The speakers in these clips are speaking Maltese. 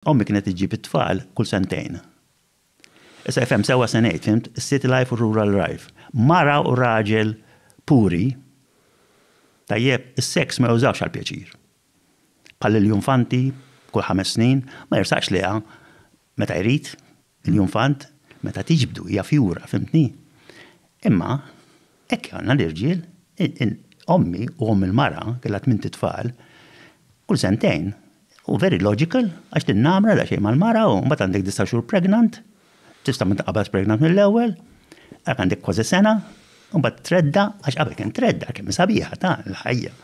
Ommi kienet iġġib it-tfal kull sentejn. Issa ifhem sewwa se ngħid, fhimt? Is-city life u r-rural life. Mara u raġel puri, tajjeb, is-seks ma jużawhx għall-pjaċir. Bħal Lilju Infanti, kull ħames snin, ma jersaqx lejha meta jrid. L-infant meta tiġbdu hija fjura, fhimtni? Imma hekk jagħna l-irġiel, ommi u omm il-mara kellha tmint itfal, kull sentejn, hu very logical għax tinnamra daqsxejn mal-mara u mbagħad għandek disa' xhur pregnant, tista' ma tinqabadx pregnant mill-ewwel, hekk għandek kważi sena, u mbagħad tredda' għax qabel kien tredda' kemm hi sabiħa ta' l-ħajja.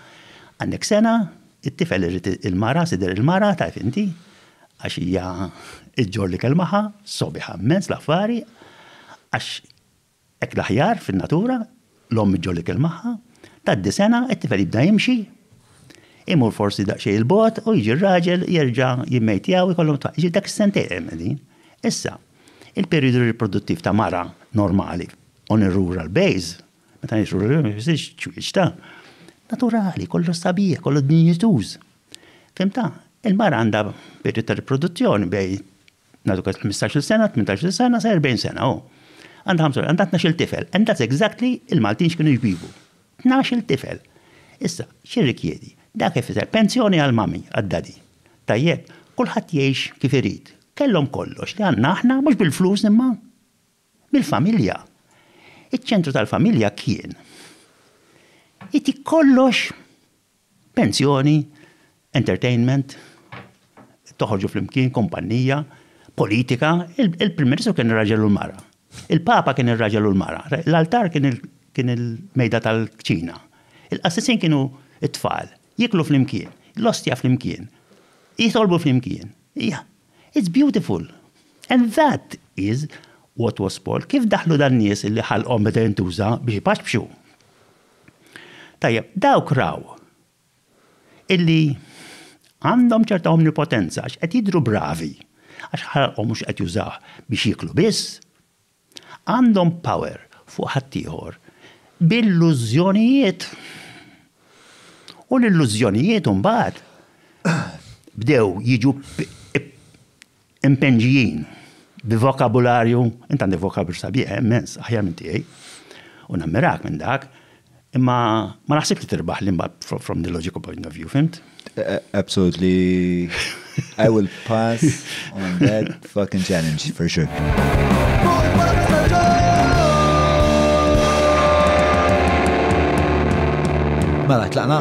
Għandek sena, It-tifel irid il-mara, sider il-mara, taf inti, għax hija ġġorr l-ikel magħha, sobiħa mmens l-affari, għax hekk l-aħjar fin-natura, l-omm ġġorr l-ikel magħha, tgħaddi sena, it-tifel jibda jimxi, imur forsi daqsxejn 'il bogħod u jiġi r-raġel jerġa' jimmej tiegħu jkollhom tfal. Jiġifieri dak is-sentejn hemm qegħdin. Issa, il-perijodu riproduttiv ta' mara normali on a rural base, Meta ngħixu l-ġuħ ma jfissirx ċwieċ ta' naturali, kollu sabiħ, kollu dinjituż. Fimta, il-mara għandha periodu ta' riproduzzjoni bej nagħtu 15-il sena, 18-il sena, sa 40 sena, oh. Għandha 5 għandha 12-il tifel, and that's exactly il-Maltin x'kienu jbibu. 12-il tifel. Issa, xi rikjedi? Dak ifisser pensjoni għal mami, għad-dadi. Tajjeb, kulħadd jgħix kif irid. Kellhom kollox li għandna aħna mhux bil-flus imma. Mill-familja. Iċ-ċentru tal-familja kien itik kollox, pensjoni, entertainment, toħorġu flimkien, kumpannija, politika, il-Prim Ministru kien ir-raġel u l-mara. Il-Papa kien ir-raġel u l-mara. L-altar kien il-mejda tal-kċina. Il-qassisin kienu it-tfal. Jiklu flimkien, l-ostja flimkien, jitolbu flimkien. It's beautiful! And that is what was sport. Kif daħlu dan nies li ħalqhom beda jintuża biex ipaxpxu? Tajjeb, dawk raw illi għandhom ċerta omnipotenza għax qed jidhru bravi għax ħalqhom mhux qed jużawh biex jieklu biss, Għandhom power fuq ħaddieħor b'illużjonijiet. U l-illużjonijiet imbagħad bdew jiġu mpenġijin bi vokabularju, int għandek vokabularju sabiħ, immens, aħjar minn tiegħi, u nammirak minn dak, Imma ma naħsib li tirbaħ li mbagħad from the logical point of view, fimt? Absolutely. I will pass on that fucking challenge for sure. Mela, tlaqna?